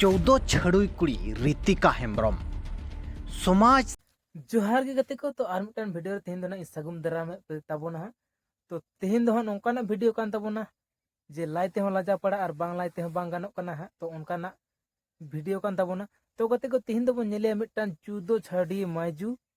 ᱪᱳᱫᱚ ᱪᱷᱟᱹᱲᱩᱭ ᱠᱩᱲᱤ ᱨᱤᱛᱤᱠᱟ ᱦᱮᱢᱵᱨᱚᱢ ᱥᱚᱢᱟᱡᱽ ᱡᱚᱦᱟᱨ ᱜᱮ ᱜᱟᱛᱮ ᱠᱚ ᱛᱚ ᱟᱨ ᱢᱤᱫᱴᱟᱝ ᱵᱷᱤᱰᱤᱭᱳ ᱨᱮ ᱛᱮᱦᱮᱧ ᱫᱚ ᱱᱟᱜ ᱥᱟᱹᱜᱩᱱ ᱫᱟᱨᱟᱢ ᱛᱟᱵᱚᱱᱟ ᱦᱟᱸᱜ ᱛᱚ ᱛᱮᱦᱮᱧ ᱫᱚ ᱦᱟᱸᱜ ᱱᱚᱝᱠᱟᱱᱟᱜ ᱵᱷᱤᱰᱤᱭᱳ ᱠᱟᱱ ᱛᱟᱵᱚᱱᱟ ᱡᱮ ᱞᱟᱭ ᱛᱮᱦᱚᱸ ᱞᱟᱡᱟ ᱯᱟᱲᱟ ᱟᱨ ᱵᱟᱝ ᱞᱟᱭ ᱛᱮᱦᱚᱸ ᱵᱟᱝ ᱜᱟᱱᱚᱜ ᱠᱟᱱᱟ ᱦᱟᱸᱜ ᱛᱚ ᱚᱱᱠᱟᱱᱟᱜ ᱵᱷᱤᱰᱤᱭᱳ ᱠᱟᱱ ᱛᱟᱵᱚᱱᱟ ᱛᱚ ᱜᱟᱛᱮ ᱠᱚ ᱛᱮᱦᱮᱧ ᱫᱚᱵᱚᱱ ᱧᱮᱞᱮᱭᱟ ᱢᱤᱫᱴᱟᱝ ᱪᱩᱫᱚ ᱪᱷᱟᱹᱰᱤ ᱢᱟᱭᱡᱩ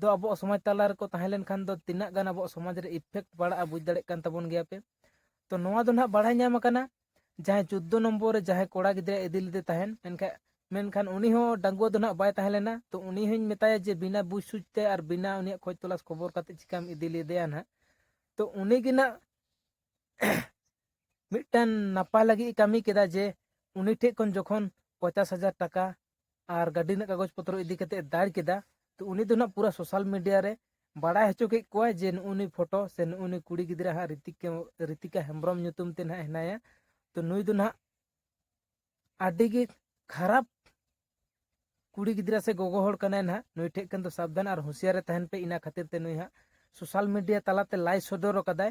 ᱫᱚ ᱟᱵᱚᱣᱟᱜ ᱥᱚᱢᱟᱡᱽ ᱛᱟᱞᱟ ᱨᱮᱠᱚ ᱛᱟᱦᱮᱸ ᱞᱮᱱᱠᱷᱟᱱ ᱫᱚ ᱛᱤᱱᱟᱹᱜ ᱜᱟᱱ ᱟᱵᱚᱣᱟᱜ ᱥᱚᱢᱟᱡᱽ ᱨᱮ ᱤᱯᱷᱮᱠᱴ ᱯᱟᱲᱟᱜᱼᱟ ᱵᱩᱡᱽ ᱫᱟᱲᱮᱭᱟᱜ ᱠᱟᱱ ᱛᱟᱵᱚᱱ ᱜᱮᱭᱟ ᱯᱮ ᱛᱚ ᱱᱚᱣᱟ ᱫᱚ ᱱᱟᱦᱟᱜ ᱵᱟᱲᱟᱭ ᱧᱟᱢ ᱟᱠᱟᱱᱟ ᱡᱟᱦᱟᱸᱭ ᱪᱳᱫᱽᱫᱳ ᱱᱚᱢᱵᱚᱨ ᱨᱮ ᱡᱟᱦᱟᱸᱭ ᱠᱚᱲᱟ ᱜᱤᱫᱽᱨᱟᱹ ᱤᱫᱤ ᱞᱮᱫᱮ ᱛᱟᱦᱮᱱ ᱢᱮᱱᱠᱷᱟᱱ ᱢᱮᱱᱠᱷᱟᱱ ᱩᱱᱤ ᱦᱚᱸ ᱰᱟᱺᱜᱩᱣᱟᱹ ᱫᱚ ᱱᱟᱦᱟᱜ ᱵᱟᱭ ᱛᱟᱦᱮᱸ ᱞᱮᱱᱟ ᱛᱚ ᱩᱱᱤ ᱦᱚᱧ ᱢᱮᱛᱟᱭᱟ ᱡᱮ ᱵᱤᱱᱟ ᱵᱩᱡᱽ ᱥᱩᱡᱽ ᱛᱮ ᱟᱨ ᱵᱤᱱᱟ ᱩᱱᱤᱭᱟᱜ ᱠᱷᱚᱡᱽ ᱛᱚᱞᱟᱥ ᱠᱷᱚᱵᱚᱨ ᱠᱟᱛᱮ ᱪᱤᱠᱟᱢ ᱤᱫᱤ ᱞᱮᱫᱮᱭᱟ ᱱᱟᱦᱟᱜ ᱛᱚ ᱩᱱᱤ ᱜᱮ ᱱᱟᱦᱟᱜ ᱢᱤᱫᱴᱟᱝ ᱱᱟᱯᱟᱭ ᱞᱟᱹᱜᱤᱫ ᱠᱟᱹᱢᱤ ᱠᱮᱫᱟ ᱡᱮ ᱩᱱᱤ ᱴᱷᱮᱡ ᱠᱷᱚᱱ ᱡᱚᱠᱷᱚᱱ ᱯᱚᱪᱟᱥ ᱦᱟᱡᱟᱨ ᱴᱟᱠᱟ ᱟᱨ ᱜᱟᱹᱰᱤ ᱨᱮᱱᱟᱜ ᱠᱟᱜᱚᱡᱽ ᱯᱚᱛᱨᱚ ᱤᱫᱤ ᱠᱟᱛᱮ ᱫᱟᱹᱲ ᱠᱮᱫᱟ ᱛᱚ ᱩᱱᱤ ᱫᱚ ᱱᱟᱜ ᱯᱩᱨᱟᱹ ᱥᱳᱥᱟᱞ ᱢᱤᱰᱤᱭᱟ ᱨᱮ ᱵᱟᱲᱟᱭ ᱦᱚᱪᱚ ᱠᱮᱫ ᱠᱚᱣᱟᱭ ᱡᱮ ᱱᱩᱜᱼᱩ ᱱᱩᱭ ᱯᱷᱳᱴᱳ ᱥᱮ ᱱᱩᱜᱼᱩ ᱱᱩᱭ ᱠᱩᱲᱤ ᱜᱤᱫᱽᱨᱟᱹ ᱦᱟᱸᱜ ᱨᱤᱛᱤᱠᱟ ᱨᱤᱛᱤᱠᱟ ᱦᱮᱢᱵᱨᱚᱢ ᱧᱩᱛᱩᱢ ᱛᱮ ᱱᱟᱜ ᱦᱮᱱᱟᱭᱟ ᱛᱚ ᱱᱩᱭ ᱫᱚ ᱱᱟᱜ ᱟᱹᱰᱤ ᱜᱮ ᱠᱷᱟᱨᱟᱯ ᱠᱩᱲᱤ ᱜᱤᱫᱽᱨᱟᱹ ᱥᱮ ᱜᱚᱜᱚ ᱦᱚᱲ ᱠᱟᱱᱟᱭ ᱱᱟᱜ ᱱᱩᱭ ᱴᱷᱮᱡ ᱠᱷᱟᱱ ᱫᱚ ᱥᱟᱵᱫᱷᱟᱱ ᱟᱨ ᱦᱩᱸᱥᱤᱭᱟᱨ ᱨᱮ ᱛᱟᱦᱮᱱ ᱯᱮ ᱤᱱᱟ ᱠᱷᱟᱹᱛᱤᱨ ᱛᱮ ᱱᱩᱭ ᱦᱟᱸᱜ ᱥᱳᱥᱟᱞ ᱢᱤᱰᱤᱭᱟ ᱛᱟᱞᱟᱛᱮ ᱞᱟᱭ ᱥᱚᱫᱚᱨ ᱟᱠᱟᱫᱟᱭ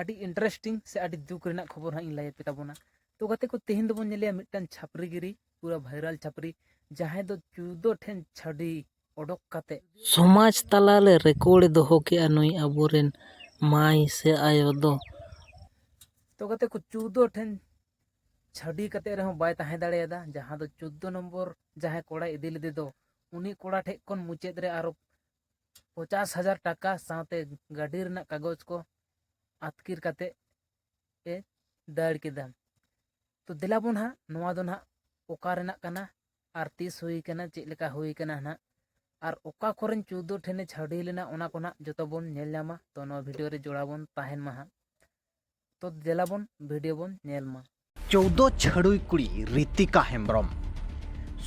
ᱟᱹᱰᱤ ᱤᱱᱴᱟᱨᱮᱥᱴᱤᱝ ᱥᱮ ᱟᱹᱰᱤ ᱫᱩᱠ ᱨᱮᱱᱟᱜ ᱠᱷᱚᱵᱚᱨ ᱦᱟᱸᱜ ᱤᱧ ᱞᱟᱹᱭ ᱟᱯᱮ ᱛᱟᱵᱚᱱᱟ ᱛᱚ ᱜᱟᱛᱮ ᱠᱚ ᱛᱮᱦᱮᱧ ᱫᱚᱵᱚᱱ ᱧᱮᱞᱮᱭᱟ ᱢᱤᱫᱴᱟᱝ ᱪᱷᱟᱯᱨᱤ ᱜᱤᱨᱤ ᱯᱩᱨᱟᱹ ᱵᱷᱟᱭᱨᱟᱞ ᱪᱷᱟᱯᱨᱤ ᱡᱟᱦᱟᱸᱭ ᱫᱚ ᱪᱩᱫᱚ ᱴᱷᱮᱱ ᱪᱷᱟᱹᱰᱤ ᱚᱰᱚᱠ ᱠᱟᱛᱮ ᱥᱚᱢᱟᱡᱽ ᱛᱟᱞᱟᱨᱮ ᱨᱮᱠᱚᱨᱰ ᱮ ᱫᱚᱦᱚ ᱠᱮᱜᱼᱟ ᱱᱩᱭ ᱟᱵᱚᱨᱮᱱ ᱢᱟᱹᱭ ᱥᱮ ᱟᱭᱳ ᱫᱚ ᱛᱚ ᱜᱟᱛᱮ ᱠᱚ ᱪᱩᱫᱚ ᱴᱷᱮᱱ ᱪᱷᱟᱹᱰᱤ ᱠᱟᱛᱮ ᱨᱮᱦᱚᱸ ᱵᱟᱭ ᱛᱟᱦᱮᱸ ᱫᱟᱲᱮᱭᱟᱫᱟ ᱡᱟᱦᱟᱸ ᱫᱚ ᱪᱩᱫᱚ ᱱᱚᱢᱵᱚᱨ ᱡᱟᱦᱟᱸᱭ ᱠᱚᱲᱟᱭ ᱤᱫᱤ ᱞᱮᱫᱮ ᱫᱚ ᱩᱱᱤ ᱠᱚᱲᱟ ᱴᱷᱮᱡ ᱠᱷᱚᱱ ᱢᱩᱪᱟᱹᱫ ᱨᱮ ᱟᱨᱚ ᱯᱚᱪᱟᱥ ᱦᱟᱡᱟᱨ ᱴᱟᱠᱟ ᱥᱟᱶᱛᱮ ᱜᱟᱹᱰᱤ ᱨᱮᱱᱟᱜ ᱠᱟᱜᱚᱡᱽ ᱠᱚ ᱟᱹᱛᱠᱤᱨ ᱠᱟᱛᱮᱫ ᱮ ᱫᱟᱹᱲ ᱠᱮᱫᱟ ᱛᱚ ᱫᱮᱞᱟ ᱵᱚᱱ ᱦᱟᱸᱜ ᱱᱚᱣᱟ ᱫᱚ ᱱᱟᱦᱟᱜ ᱚᱠᱟ ᱨᱮᱱᱟᱜ ᱠᱟᱱᱟ ᱟᱨ ᱛᱤᱥ ᱦᱩᱭ ᱠᱟᱱᱟ ᱪᱮᱫ ᱞᱮᱠᱟ ᱦᱩᱭ ᱠᱟᱱᱟ ᱱᱟᱦᱟᱜ ᱟᱨ ᱚᱠᱟ ᱠᱚᱨᱮᱱ ᱪᱳᱫᱽᱫᱳ ᱴᱷᱮᱱᱮ ᱪᱷᱟᱹᱰᱣᱤ ᱞᱮᱱᱟ ᱚᱱᱟ ᱠᱚ ᱱᱟᱦᱟᱜ ᱡᱚᱛᱚ ᱵᱚᱱ ᱧᱮᱞ ᱧᱟᱢᱟ ᱛᱚ ᱱᱚᱣᱟ ᱵᱷᱤᱰᱭᱳ ᱨᱮ ᱡᱚᱲᱟᱣ ᱵᱚᱱ ᱛᱟᱦᱮᱱ ᱢᱟ ᱦᱟᱸᱜ ᱛᱚ ᱫᱮᱞᱟ ᱵᱚᱱ ᱵᱷᱤᱰᱤᱭᱳ ᱵᱚᱱ ᱧᱮᱞ ᱢᱟ ᱪᱳᱣᱫᱚ ᱪᱷᱟᱹᱰᱩᱭ ᱠᱩᱲᱤ ᱨᱤᱛᱤᱠᱟ ᱦᱮᱢᱵᱨᱚᱢ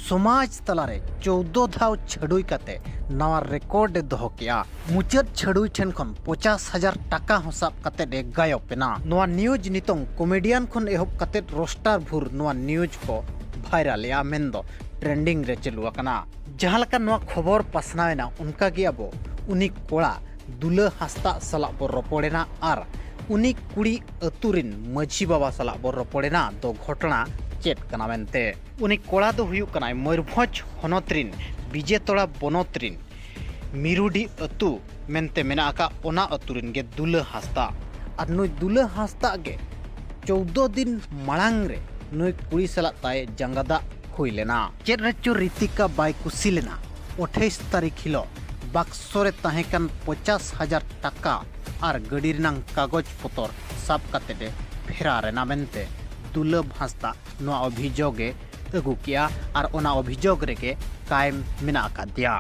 ᱥᱚᱢᱟᱡᱽ ᱛᱟᱞᱟᱨᱮ ᱪᱳᱣᱫᱚ ᱫᱷᱟᱣ ᱪᱷᱟᱹᱰᱩᱭ ᱠᱟᱛᱮ ᱱᱟᱣᱟ ᱨᱮᱠᱚᱨᱰ ᱮ ᱫᱚᱦᱚ ᱠᱮᱜᱼᱟ ᱢᱩᱪᱟᱹᱫ ᱪᱷᱟᱹᱰᱩᱭ ᱴᱷᱮᱱ ᱠᱷᱚᱱ ᱯᱚᱪᱟᱥ ᱦᱟᱡᱟᱨ ᱴᱟᱠᱟ ᱦᱚᱸ ᱥᱟᱵ ᱠᱟᱛᱮ ᱮ ᱜᱟᱭᱚᱵ ᱮᱱᱟ ᱱᱚᱣᱟ ᱱᱤᱭᱩᱡᱽ ᱱᱤᱛᱚᱝ ᱠᱚᱢᱮᱰᱤᱭᱟᱱ ᱠᱷᱚᱱ ᱮᱦᱚᱵ ᱠᱟᱛᱮ ᱨᱳᱥᱴᱟᱨ ᱵᱷᱩᱨ ᱱᱚᱣᱟ ᱱᱤᱭᱩᱡᱽ ᱠᱚ ᱵᱷᱟᱭᱨᱟᱞ ᱮᱜᱼᱟ ᱢᱮᱱᱫᱚ ᱴᱨᱮᱱᱰᱤᱝ ᱨᱮ ᱪᱟᱹᱞᱩ ᱟᱠᱟᱱᱟ ᱡᱟᱦᱟᱸ ᱞᱮᱠᱟ ᱱᱚᱣᱟ ᱠᱷᱚᱵᱚᱨ ᱯᱟᱥᱱᱟᱣ ᱮᱱᱟ ᱚᱱᱠᱟ ᱜᱮ ᱟᱵᱚ ᱩᱱᱤ ᱠᱚᱲᱟ ᱫᱩᱞᱟᱹ ᱦᱟᱸᱥᱫᱟᱜ ᱥᱟᱞᱟᱜ ᱵᱚ ᱨᱚᱯᱚᱲ ᱮᱱᱟ ᱟᱨ ᱩᱱᱤ ᱠᱩᱲᱤ ᱟᱹᱛᱩ ᱨᱤᱱ ᱢᱟᱹᱡᱷᱤ ᱵᱟᱵᱟ ᱥᱟᱞᱟᱜ ᱵᱚ ᱨᱚᱯᱚᱲᱮᱱᱟ ᱫᱚ ᱜᱷᱚᱴᱚᱱᱟ ᱪᱮᱫ ᱠᱟᱱᱟ ᱢᱮᱱᱛᱮ ᱩᱱᱤ ᱠᱚᱲᱟ ᱫᱚ ᱦᱩᱭᱩᱜ ᱠᱟᱱᱟᱭ ᱢᱚᱭᱩᱨᱵᱷᱚᱸᱡᱽ ᱦᱚᱱᱚᱛ ᱨᱤᱱ ᱵᱤᱡᱮᱛᱚᱲᱟ ᱵᱚᱱᱚᱛ ᱨᱤᱱ ᱢᱤᱨᱩᱰᱤ ᱟᱹᱛᱩ ᱢᱮᱱᱛᱮ ᱢᱮᱱᱟᱜ ᱟᱠᱟᱫ ᱚᱱᱟ ᱟᱹᱛᱩ ᱨᱤᱱ ᱜᱮ ᱫᱩᱞᱟᱹ ᱦᱟᱸᱥᱫᱟ ᱟᱨ ᱱᱩᱭ ᱫᱩᱞᱟᱹ ᱦᱟᱸᱥᱫᱟ ᱜᱮ ᱪᱳᱣᱫᱚ ᱫᱤᱱ ᱢᱟᱲᱟᱝ ᱨᱮ ᱱᱩᱭ ᱠᱩᱲᱤ ᱥᱟᱞᱟᱜ ᱛᱟᱭ ᱡᱟᱸᱜᱟ ᱫᱟᱜ ᱦᱩᱭ ᱞᱮᱱᱟ ᱪᱮᱫ ᱨᱮᱪᱚ ᱨᱤᱛᱤᱠᱟ ᱵᱟᱭ ᱠᱩᱥᱤ ᱞᱮᱱᱟ ᱟᱴᱷᱟᱭᱤᱥ ᱛᱟᱹᱨᱤᱠᱷ ᱦᱤᱞᱚᱜ ᱵᱟᱠᱥᱚ ᱨᱮ ᱛᱟᱦᱮᱸ ᱠᱟᱱ ᱯᱚᱸᱪᱟᱥ ᱦᱟᱡᱟᱨ ᱴᱟᱠᱟ ᱟᱨ ᱜᱟᱹᱰᱤ ᱨᱮᱱᱟᱝ ᱠᱟᱜᱚᱡᱽ ᱯᱚᱛᱚᱨ ᱥᱟᱵ ᱠᱟᱛᱮ ᱮ ᱯᱷᱮᱨᱟᱨ ᱮᱱᱟ ᱢᱮᱱᱛᱮ ᱫᱩᱞᱟᱹᱵ ᱦᱟᱸᱥᱫᱟ ᱱᱚᱣᱟ ᱚᱵᱷᱤᱡᱳᱜᱽ ᱮ ᱟᱹᱜᱩ ᱠᱮᱜᱼᱟ ᱟᱨ ᱚᱱᱟ ᱚᱵᱷᱤᱡᱳᱜᱽ ᱨᱮᱜᱮ ᱠᱟᱭᱮᱢ ᱢᱮᱱᱟᱜ ᱟᱠᱟᱫᱮᱭᱟ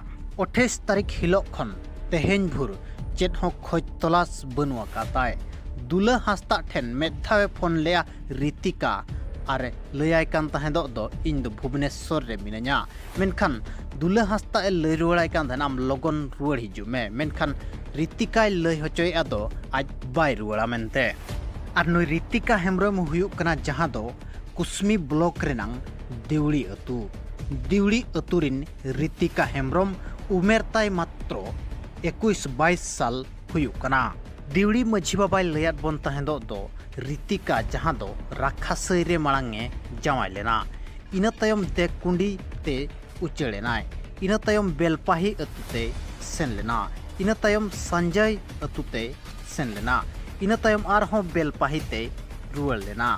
ᱚᱴᱷᱮᱥ ᱛᱟᱹᱨᱤᱠᱷ ᱦᱤᱞᱳᱜ ᱠᱷᱚᱱ ᱛᱮᱦᱮᱧ ᱵᱷᱳᱨ ᱪᱮᱫ ᱦᱚᱸ ᱠᱷᱚᱡᱽ ᱛᱚᱞᱟᱥ ᱵᱟᱹᱱᱩᱜ ᱟᱠᱟᱫᱟᱭ ᱫᱩᱞᱟᱹ ᱦᱟᱸᱥᱫᱟ ᱴᱷᱮᱱ ᱢᱤᱫ ᱫᱷᱟᱣ ᱮ ᱯᱷᱳᱱ ᱞᱮᱜᱼᱟ ᱨᱤᱛᱤᱠᱟ ᱟᱨ ᱮ ᱞᱟᱹᱭᱟᱭ ᱠᱟᱱ ᱛᱟᱦᱮᱸᱫᱚᱜ ᱫᱚ ᱤᱧ ᱫᱚ ᱵᱷᱩᱵᱽᱱᱮᱥᱥᱚᱨ ᱨᱮ ᱢᱤᱱᱟᱹᱧᱟ ᱢᱮᱱᱠᱷᱟᱱ ᱫᱩᱞᱟᱹ ᱦᱟᱸᱥᱫᱟᱜ ᱮ ᱞᱟᱹᱭ ᱨᱩᱣᱟᱹᱲᱟᱭ ᱠᱟᱱ ᱛᱟᱦᱮᱱᱟ ᱟᱢ ᱞᱚᱜᱚᱱ ᱨᱩᱣᱟᱹᱲ ᱦᱤᱡᱩᱜ ᱢᱮ ᱢᱮᱱᱠᱷᱟᱱ ᱨᱤᱛᱤᱠᱟᱭ ᱞᱟᱹᱭ ᱦᱚᱪᱚᱭᱮᱫᱼᱟ ᱫᱚ ᱟᱡ ᱵᱟᱭ ᱨᱩᱣᱟᱹᱲᱟ ᱢᱮᱱᱛᱮ ᱟᱨ ᱱᱩᱭ ᱨᱤᱛᱤᱠᱟ ᱦᱮᱢᱵᱨᱚᱢ ᱦᱩᱭᱩᱜ ᱠᱟᱱᱟ ᱡᱟᱦᱟᱸ ᱫᱚ ᱠᱩᱥᱢᱤ ᱵᱞᱚᱠ ᱨᱮᱱᱟᱝ ᱫᱤᱣᱲᱤ ᱟᱹᱛᱩ ᱫᱤᱣᱲᱤ ᱟᱹᱛᱩ ᱨᱤᱱ ᱨᱤᱛᱤᱠᱟ ᱦᱮᱢᱵᱨᱚᱢ ᱩᱢᱮᱨ ᱛᱟᱭ ᱢᱟᱛᱨᱚ ᱮᱠᱩᱥ ᱵᱟᱭᱤᱥ ᱥᱟᱞ ᱦᱩᱭᱩᱜ ᱠᱟᱱᱟ ᱫᱤᱣᱲᱤ ᱢᱟᱹᱡᱷᱤ ᱵᱟᱵᱟᱭ ᱞᱟᱹᱭᱟᱫ ᱵᱚᱱ ᱛᱟᱦᱮᱸᱫᱚᱜ ᱫᱚ ᱨᱤᱛᱤᱠᱟ ᱡᱟᱦᱟᱸ ᱫᱚ ᱨᱟᱠᱷᱟᱥᱟᱹᱭ ᱨᱮ ᱢᱟᱲᱟᱝ ᱮ ᱡᱟᱶᱟᱭ ᱞᱮᱱᱟ ᱤᱱᱟᱹ ᱛᱟᱭᱚᱢ ᱫᱮᱠᱠᱩᱸᱰᱤ ᱛᱮ ᱩᱪᱟᱹᱲ ᱮᱱᱟᱭ ᱤᱱᱟᱹ ᱛᱟᱭᱚᱢ ᱵᱮᱞᱯᱟᱦᱤ ᱟᱹᱛᱩ ᱛᱮ ᱥᱮᱱ ᱞᱮᱱᱟ ᱤᱱᱟᱹ ᱛᱟᱭᱚᱢ ᱥᱟᱧᱡᱟᱭ ᱟᱹᱛᱩ ᱛᱮ ᱥᱮᱱ ᱞᱮᱱᱟ ᱤᱱᱟᱹ ᱛᱟᱭᱚᱢ ᱟᱨᱦᱚᱸ ᱵᱮᱞᱯᱟᱦᱤ ᱛᱮ ᱨᱩᱣᱟᱹᱲ ᱞᱮᱱᱟ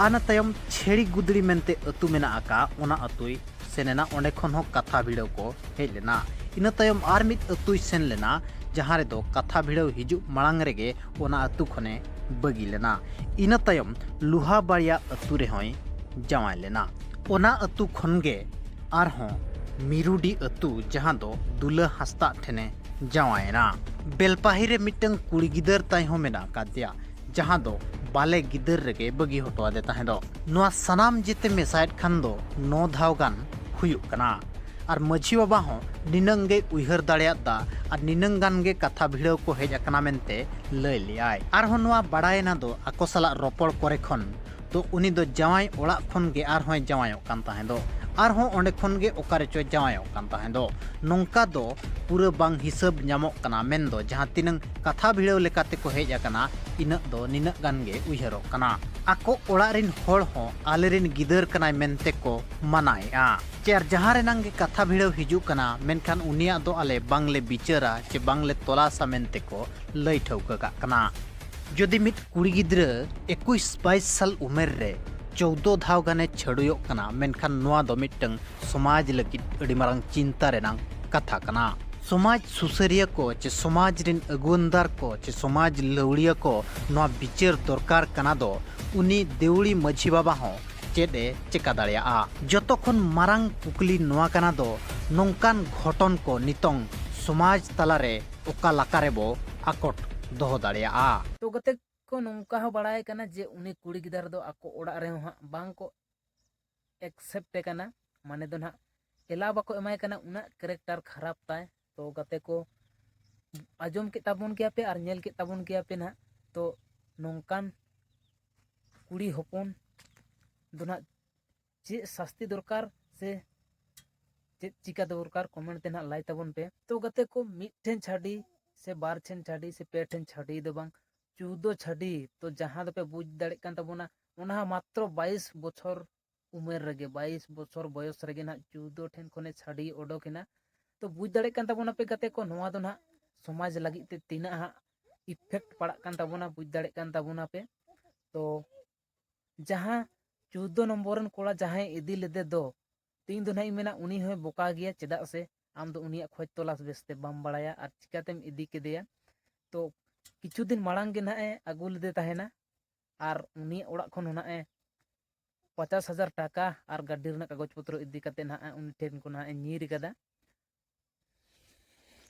ᱟᱨ ᱤᱱᱟᱹ ᱛᱟᱭᱚᱢ ᱪᱷᱮᱲᱤ ᱜᱩᱫᱽᱲᱤ ᱢᱮᱱᱛᱮ ᱟᱹᱛᱩ ᱢᱮᱱᱟᱜ ᱟᱠᱟᱫ ᱚᱱᱟ ᱟᱹᱛᱩᱭ ᱥᱮᱱ ᱮᱱᱟ ᱚᱸᱰᱮ ᱠᱷᱚᱱ ᱦᱚᱸ ᱠᱟᱛᱷᱟ ᱵᱷᱤᱲᱟᱹᱣ ᱠᱚ ᱦᱮᱡ ᱞᱮᱱᱟ ᱤᱱᱟᱹ ᱛᱟᱭᱚᱢ ᱟᱨ ᱢᱤᱫ ᱟᱹᱛᱩᱭ ᱥᱮᱱ ᱞᱮᱱᱟ ᱡᱟᱦᱟᱸ ᱨᱮᱫᱚ ᱠᱟᱛᱷᱟ ᱵᱷᱤᱲᱟᱹᱣ ᱦᱤᱡᱩᱜ ᱢᱟᱲᱟᱝ ᱨᱮᱜᱮ ᱚᱱᱟ ᱟᱹᱛᱩ ᱠᱷᱚᱱᱮ ᱵᱟᱹᱜᱤ ᱞᱮᱱᱟ ᱤᱱᱟᱹ ᱛᱟᱭᱚᱢ ᱞᱩᱦᱟ ᱵᱟᱲᱤᱭᱟ ᱟᱹᱛᱩ ᱨᱮᱦᱚᱸᱭ ᱡᱟᱶᱟᱭ ᱞᱮᱱᱟ ᱚᱱᱟ ᱟᱹᱛᱩ ᱠᱷᱚᱱ ᱜᱮ ᱟᱨᱦᱚᱸ ᱢᱤᱨᱩᱰᱤ ᱟᱹᱛᱩ ᱡᱟᱦᱟᱸ ᱫᱚ ᱫᱩᱞᱟᱹ ᱦᱟᱸᱥᱫᱟᱜ ᱴᱷᱮᱱᱮ ᱡᱟᱶᱟᱭᱮᱱᱟ ᱵᱮᱞᱯᱟᱦᱤ ᱨᱮ ᱢᱤᱫᱴᱟᱝ ᱠᱩᱲᱤ ᱜᱤᱫᱟᱹᱨ ᱛᱟᱭ ᱦᱚᱸ ᱢᱮᱱᱟᱜ ᱟᱠᱟᱫᱮᱭᱟ ᱡᱟᱦᱟᱸ ᱫᱚ ᱵᱟᱞᱮ ᱜᱤᱫᱟᱹᱨ ᱨᱮᱜᱮ ᱵᱟᱹᱜᱤ ᱦᱚᱴᱚ ᱟᱫᱮ ᱛᱟᱦᱮᱸ ᱫᱚ ᱱᱚᱣᱟ ᱥᱟᱱᱟᱢ ᱡᱮᱛᱮ ᱢᱮᱥᱟᱭᱮᱫ ᱠᱷᱟᱱ ᱫᱚ ᱱᱚ ᱫᱷᱟᱣ ᱜᱟᱱ ᱦᱩᱭᱩᱜ ᱠᱟᱱᱟ ᱟᱨ ᱢᱟᱹᱡᱷᱤ ᱵᱟᱵᱟ ᱦᱚᱸ ᱱᱤᱱᱟᱹᱝ ᱜᱮ ᱩᱭᱦᱟᱹᱨ ᱫᱟᱲᱮᱭᱟᱫ ᱫᱟ ᱟᱨ ᱱᱤᱱᱟᱹᱝ ᱜᱟᱱ ᱜᱮ ᱠᱟᱛᱷᱟ ᱵᱷᱤᱲᱟᱹᱣ ᱠᱚ ᱦᱮᱡ ᱟᱠᱟᱱᱟ ᱢᱮᱱᱛᱮ ᱞᱟᱹᱭ ᱞᱮᱭᱟᱭ ᱟᱨᱦᱚᱸ ᱱᱚᱣᱟ ᱵᱟᱲᱟᱭᱮᱱᱟ ᱫᱚ ᱟᱠᱚ ᱥᱟᱞᱟᱜ ᱨᱚᱯᱚᱲ ᱠᱚᱨᱮ ᱠᱷᱚᱱ ᱛᱚ ᱩᱱᱤ ᱫᱚ ᱡᱟᱶᱟᱭ ᱚᱲᱟᱜ ᱠᱷᱚᱱ ᱜᱮ ᱟᱨᱦᱚᱸᱭ ᱡᱟᱶᱟᱭᱚᱜ ᱠᱟᱱ ᱛᱟᱦᱮᱸ ᱫᱚ ᱟᱨᱦᱚᱸ ᱚᱸᱰᱮ ᱠᱷᱚᱱ ᱜᱮ ᱚᱠᱟ ᱨᱮᱪᱚ ᱡᱟᱶᱟᱭᱚᱜ ᱠᱟᱱ ᱛᱟᱦᱮᱸ ᱫᱚ ᱱᱚᱝᱠᱟ ᱫᱚ ᱯᱩᱨᱟᱹ ᱵᱟᱝ ᱦᱤᱥᱟᱹᱵ ᱧᱟᱢᱚᱜ ᱠᱟᱱᱟ ᱢᱮᱱ ᱫᱚ ᱡᱟᱦᱟᱸ ᱛᱤᱱᱟᱹᱝ ᱠᱟᱛᱷᱟ ᱵᱷᱤᱲᱟᱹᱣ ᱞᱮᱠᱟᱛᱮ ᱠᱚ ᱦᱮᱡ ᱟᱠᱟᱱᱟ ᱤᱱᱟᱹᱜ ᱫᱚ ᱱᱤᱱᱟᱹᱜ ᱜᱟᱱ ᱜᱮ ᱩᱭᱦᱟᱹᱨᱚᱜ ᱠᱟᱱᱟ ᱟᱠᱚ ᱚᱲᱟᱜ ᱨᱤᱱ ᱦᱚᱲ ᱦᱚᱸ ᱟᱞᱮ ᱨᱤᱱ ᱜᱤᱫᱟᱹᱨ ᱠᱟᱱᱟᱭ ᱢᱮᱱᱛᱮ ᱠᱚ ᱢᱟᱱᱟᱭᱮᱜᱼᱟ ᱪᱮ ᱟᱨ ᱡᱟᱦᱟᱸ ᱨᱮᱱᱟᱝ ᱜᱮ ᱠᱟᱛᱷᱟ ᱵᱷᱤᱲᱟᱹᱣ ᱦᱤᱡᱩᱜ ᱠᱟᱱᱟ ᱢᱮᱱᱠᱷᱟᱱ ᱩᱱᱤᱭᱟᱜ ᱫᱚ ᱟᱞᱮ ᱵᱟᱝ ᱞᱮ ᱵᱤᱪᱟᱹᱨᱟ ᱪᱮ ᱵᱟᱝ ᱞᱮ ᱛᱚᱞᱟᱥᱟ ᱢᱮᱱᱛᱮ ᱠᱚ ᱞᱟᱹᱭ ᱴᱷᱟᱹᱣᱠᱟᱹ ᱠᱟᱜ ᱠᱟᱱᱟ ᱡᱩᱫᱤ ᱢᱤᱫ ᱠᱩᱲᱤ ᱜᱤᱫᱽᱨᱟᱹ ᱮᱠᱩᱥ ᱵᱟᱭᱤᱥ ᱥᱟᱞ ᱩᱢᱮᱨ ᱨᱮ ᱪᱳᱣᱫᱚ ᱫᱷᱟᱣ ᱜᱟᱱᱮ ᱪᱷᱟᱹᱲᱩᱭᱚᱜ ᱠᱟᱱᱟ ᱢᱮᱱᱠᱷᱟᱱ ᱱᱚᱣᱟ ᱫᱚ ᱢᱤᱫᱴᱟᱝ ᱥᱚᱢᱟᱡᱽ ᱞᱟᱹᱜᱤᱫ ᱟᱹᱰᱤ ᱢᱟᱨᱟᱝ ᱪᱤᱱᱛᱟ ᱨᱮᱱᱟᱝ ᱠᱟᱛᱷᱟ ᱠᱟᱱᱟ ᱥᱚᱢᱟᱡᱽ ᱥᱩᱥᱟᱹᱨᱤᱭᱟᱹ ᱠᱚ ᱪᱮ ᱥᱚᱢᱟᱡᱽ ᱨᱮᱱ ᱟᱹᱜᱩᱣᱟᱹᱱᱫᱟᱨ ᱠᱚ ᱪᱮ ᱥᱚᱢᱟᱡᱽ ᱞᱟᱹᱣᱲᱤᱭᱟᱹ ᱠᱚ ᱱᱚᱣᱟ ᱵᱤᱪᱟᱹᱨ ᱫᱚᱨᱠᱟᱨ ᱠᱟᱱᱟ ᱫᱚ ᱩᱱᱤ ᱫᱮᱣᱲᱤ ᱢᱟᱹᱡᱷᱤ ᱵᱟᱵᱟ ᱦᱚᱸ ᱪᱮᱫ ᱮ ᱪᱮᱠᱟ ᱫᱟᱲᱮᱭᱟᱜᱼᱟ ᱡᱚᱛᱚ ᱠᱷᱚᱱ ᱢᱟᱨᱟᱝ ᱠᱩᱠᱞᱤ ᱱᱚᱣᱟ ᱠᱟᱱᱟ ᱫᱚ ᱱᱚᱝᱠᱟᱱ ᱜᱷᱚᱴᱚᱱ ᱠᱚ ᱱᱤᱛᱚᱝ ᱥᱚᱢᱟᱡᱽ ᱛᱟᱞᱟᱨᱮ ᱚᱠᱟ ᱞᱟᱠᱟ ᱨᱮ ᱵᱚ ᱟᱠᱚᱴ ᱫᱚᱦᱚ ᱫᱟᱲᱮᱭᱟᱜᱼᱟ᱾ ᱛᱚ ᱜᱟᱛᱮ ᱠᱚ ᱱᱚᱝᱠᱟ ᱦᱚᱸ ᱵᱟᱲᱟᱭ ᱠᱟᱱᱟ ᱡᱮ ᱩᱱᱤ ᱠᱩᱲᱤ ᱜᱤᱫᱟᱹᱨ ᱫᱚ ᱟᱠᱚ ᱚᱲᱟᱜ ᱨᱮ ᱦᱚᱸ ᱦᱟᱸᱜ ᱵᱟᱝ ᱠᱚ ᱮᱠᱥᱮᱯᱴ ᱮ ᱠᱟᱱᱟ ᱢᱟᱱᱮ ᱫᱚ ᱱᱟᱦᱟᱜ ᱮᱞᱟᱣ ᱵᱟᱠᱚ ᱮᱢᱟᱭ ᱠᱟᱱᱟ ᱩᱱᱟᱹᱜ ᱠᱮᱨᱮᱠᱴᱟᱨ ᱠᱷᱟᱨᱟᱯ ᱛᱟᱭ ᱛᱚ ᱜᱟᱛᱮ ᱠᱚ ᱟᱸᱡᱚᱢ ᱠᱮᱫ ᱛᱟᱵᱚᱱ ᱜᱮᱭᱟ ᱯᱮ ᱟᱨ ᱧᱮᱞ ᱠᱮᱫ ᱛᱟᱵᱚᱱ ᱜᱮᱭᱟ ᱯᱮ ᱱᱟᱦᱟᱜ ᱛᱚ ᱱᱚᱝᱠᱟᱱ ᱠᱩᱲᱤ ᱦᱚᱯᱚᱱ ᱫᱚ ᱱᱟᱦᱟᱜ ᱪᱮᱫ ᱥᱟᱥᱛᱤ ᱫᱚᱨᱠᱟᱨ ᱥᱮ ᱪᱮᱫ ᱪᱤᱠᱟ ᱫᱚᱨᱠᱟᱨ ᱠᱚᱢᱮᱱᱴ ᱛᱮ ᱱᱟᱦᱟᱜ ᱞᱟᱭ ᱛᱟᱵᱚᱱ ᱯᱮ ᱛᱚ ᱜᱟᱛᱮ ᱠᱚ ᱢᱤᱫᱴᱷᱮᱱ ᱪᱷᱟᱹᱰᱤ ᱥᱮ ᱵᱟᱨ ᱴᱷᱮᱱ ᱪᱷᱟᱹᱰᱤ ᱥᱮ ᱯᱮ ᱴᱷᱮᱱ ᱪᱷᱟᱹᱰᱤ ᱫᱚ ᱵᱟᱝ ᱪᱳᱫᱫᱳ ᱪᱷᱟᱹᱰᱤ ᱛᱚ ᱡᱟᱦᱟᱸ ᱫᱚᱯᱮ ᱵᱩᱡᱽ ᱫᱟᱲᱮᱜ ᱠᱟᱱ ᱛᱟᱵᱚᱱᱟ ᱚᱱᱟ ᱦᱚᱸ ᱢᱟᱛᱨᱚ ᱵᱟᱭᱤᱥ ᱵᱚᱪᱷᱚᱨ ᱩᱢᱮᱨ ᱨᱮᱜᱮ ᱵᱟᱭᱤᱥ ᱵᱚᱪᱷᱚᱨ ᱵᱚᱭᱚᱥ ᱨᱮᱜᱮ ᱱᱟᱦᱟᱜ ᱪᱳᱫᱫᱳ ᱴᱷᱮᱱ ᱠᱷᱚᱱᱮ ᱪᱷᱟᱹᱰᱤ ᱚᱰᱚᱠ ᱮᱱᱟ ᱛᱚ ᱵᱩᱡᱽ ᱫᱟᱲᱮᱜ ᱠᱟᱱ ᱛᱟᱵᱚᱱᱟ ᱯᱮ ᱜᱟᱛᱮ ᱠᱚ ᱱᱚᱣᱟ ᱫᱚ ᱱᱟᱦᱟᱜ ᱥᱚᱢᱟᱡᱽ ᱞᱟᱹᱜᱤᱫ ᱛᱮ ᱛᱤᱱᱟᱹᱜ ᱦᱟᱸᱜ ᱤᱯᱷᱮᱠᱴ ᱯᱟᱲᱟᱜ ᱠᱟᱱ ᱛᱟᱵᱚᱱᱟ ᱵᱩᱡᱽ ᱫᱟᱲᱮᱜ ᱠᱟᱱ ᱛᱟᱵᱚᱱᱟ ᱯᱮ ᱛᱚ ᱡᱟᱦᱟᱸ ᱪᱳᱫᱽᱫᱚ ᱱᱚᱢᱵᱚᱨ ᱨᱮᱱ ᱠᱚᱲᱟ ᱡᱟᱦᱟᱸᱭ ᱤᱫᱤ ᱞᱮᱫᱮ ᱫᱚ ᱛᱮᱦᱮᱧ ᱫᱚ ᱱᱟᱦᱟᱜ ᱤᱧ ᱢᱮᱱᱟ ᱩᱱᱤ ᱦᱚᱸᱭ ᱵᱚᱠᱟ ᱜᱮᱭᱟ ᱪᱮᱫᱟᱜ ᱥᱮ ᱟᱢ ᱫᱚ ᱩᱱᱤᱭᱟᱜ ᱠᱷᱚᱡᱽ ᱛᱚᱞᱟᱥ ᱵᱮᱥᱛᱮ ᱵᱟᱢ ᱵᱟᱲᱟᱭᱟ ᱟᱨ ᱪᱤᱠᱟᱛᱮᱢ ᱤᱫᱤ ᱠᱮᱫᱮᱭᱟ ᱛᱚ ᱠᱤᱪᱷᱩ ᱫᱤᱱ ᱢᱟᱲᱟᱝ ᱜᱮ ᱱᱟᱦᱟᱜ ᱮ ᱟᱹᱜᱩ ᱞᱮᱫᱮ ᱛᱟᱦᱮᱱᱟ ᱟᱨ ᱩᱱᱤᱭᱟᱜ ᱚᱲᱟᱜ ᱠᱷᱚᱱ ᱦᱚᱸ ᱱᱟᱦᱟᱜ ᱮ ᱯᱚᱪᱟᱥ ᱦᱟᱡᱟᱨ ᱴᱟᱠᱟ ᱟᱨ ᱜᱟᱹᱰᱤ ᱨᱮᱱᱟᱜ ᱠᱟᱜᱚᱡᱽ ᱯᱚᱛᱨᱚ ᱤᱫᱤ ᱠᱟᱛᱮᱫ ᱱᱟᱦᱟᱜ ᱩᱱᱤ ᱴᱷᱮᱱ ᱠᱷᱚᱱ ᱱᱟᱦᱟᱜ ᱮ ᱧᱤᱨ ᱠᱟᱫᱟ